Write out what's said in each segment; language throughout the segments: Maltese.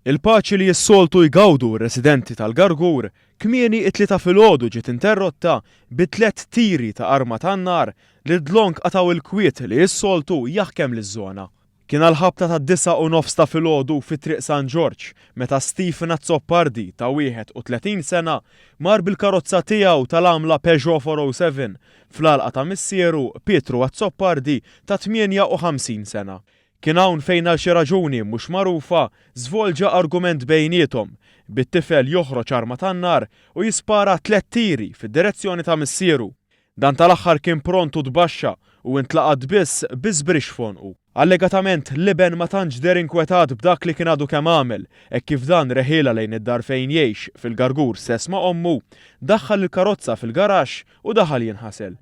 Il-paċi li s-soltu jgawdu r-residenti tal-Gargur, kmieni t-Tlieta filgħodu ġiet interrotta bi tliet tiri ta' arma tan-nar li d-dlonk qatgħu il-kwiet li s-soltu jaħkem liż-żona. Kien għall-ħabta tad-disgħa u nofs ta' filgħodu fi Triq San Ġorġ meta Stephen Azzopardi ta' 31 sena mar bil-karozza tiegħu tal-għamla Peugeot 407 fl-għalqa ta' missieru, Pietru Azzopardi ta' 58 sena. Kien hawn fejn għal xi raġuni mhux magħrufa żvolġa argument bejniethom, bit-tifel joħroġ arma tan-nar u jispara tliet tiri fid-direzzjoni ta' missieru. Dan tal-aħħar kien pront u tbaxxa u intlaqat biss bi żbrixx f'għonqu. Allegatament, l-iben ma tantx deher inkwetat b'dak li kien għadu kemm għamel, hekk kif dan reħilha lejn id-dar fejn jgħix, fil-Gargur stess ma' ommu, daħħal il-karozza fil-garaxx u daħal jinħasel.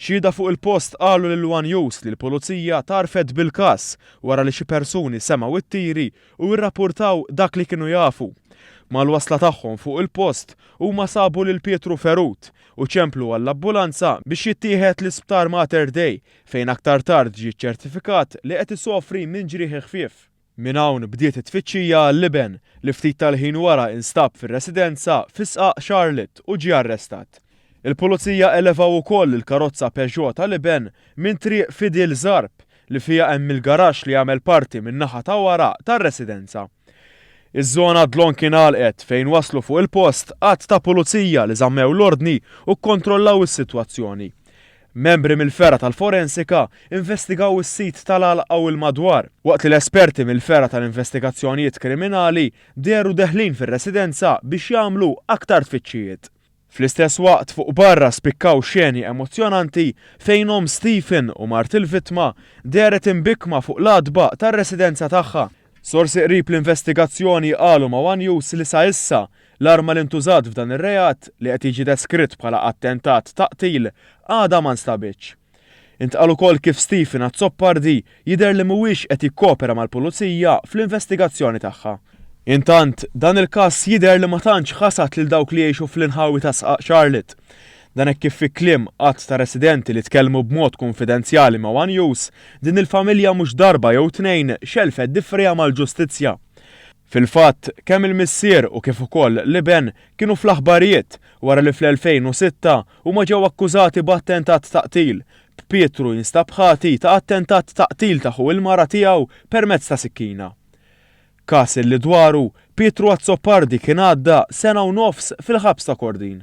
Xhieda fuq il-post qalu lil one News li l-Pulizija tgħarrfet bil-każ wara li xi persuni semgħu t-tiri u irrappurtaw dak li kienu jafu. Mal-wasla tagħhom fuq il-post, huma sabu lil Pietru ferut u ċemplu għall-ambulanza biex jittieħed l-Isptar Mater Dei fejn aktar tard ġie ċċertifikat li qed isofri minn ġrieħi ħfief. Minn hawn bdiet it-tfittxija għall-iben, li ftit tal-ħin wara instab fir-residenza fi Sqaq Charlotte u ġie arrestat. Il-Pulizija elevaw ukoll il-karozza Peugeot tal-iben minn Triq Fidil Zarb, li fiha hemm il-garaxx li jagħmel parti min-naħa ta' wara tar-residenza. Iż-żona dlonk ingħalqet fejn waslu fuq il-post għadd ta' Pulizija li żammew l-ordni u kkontrollaw is-sitwazzjoni. Membri mill-fergħa tal-forensika investigaw is-sit tal-għalqa u l-madwar, waqt li l-esperti mill-fergħa tal-investigazzjonijiet kriminali dehru deħlin fir-residenza biex jagħmlu aktar tfittxijiet. Fl-istess waqt, fuq barra spikkaw xeni emozzjonanti fejn omm Stephen u mart il-vittma dehret imbikkma fuq l-għatba tar-residenza tagħha, Sorsi qrib l-investigazzjoni qalu ma' one News li sa issa, l-arma li ntużat f'dan ir-reat, li qed jiġi deskritt bħala attentat ta' qtil, għadha ma nstabitx. Intqal ukoll kif Stephen Azzopardi jidher li mhuwiex qed jikkopera mal-Pulizija fl-investigazzjoni tagħha. Intant, dan il-każ jidher li ma tantx ħasad lil dawk li jgħixu fl-inħawi ta' Sqaq Charlotte. Dan hekk kif fi kliem għadd ta' residenti li tkellmu b'mod kunfidenzjali ma' one News, din il-familja mhux darba jew tnejn xelfet difriha mal-ġustizzja. Fil-fatt, kemm il-missier u kif ukoll l-iben kienu fl-aħbarijiet wara li fl-2006 huma ġew akkużati b'attentat ta' qtil, b'Pietru jinstab ħati ta' attentat ta' qtil ta' ħu il-mara tiegħu permezz ta' sikkina. każ li dwaru Pietru Azzopardi kien għadda sena u nofs fil-ħabs ta' Kordin.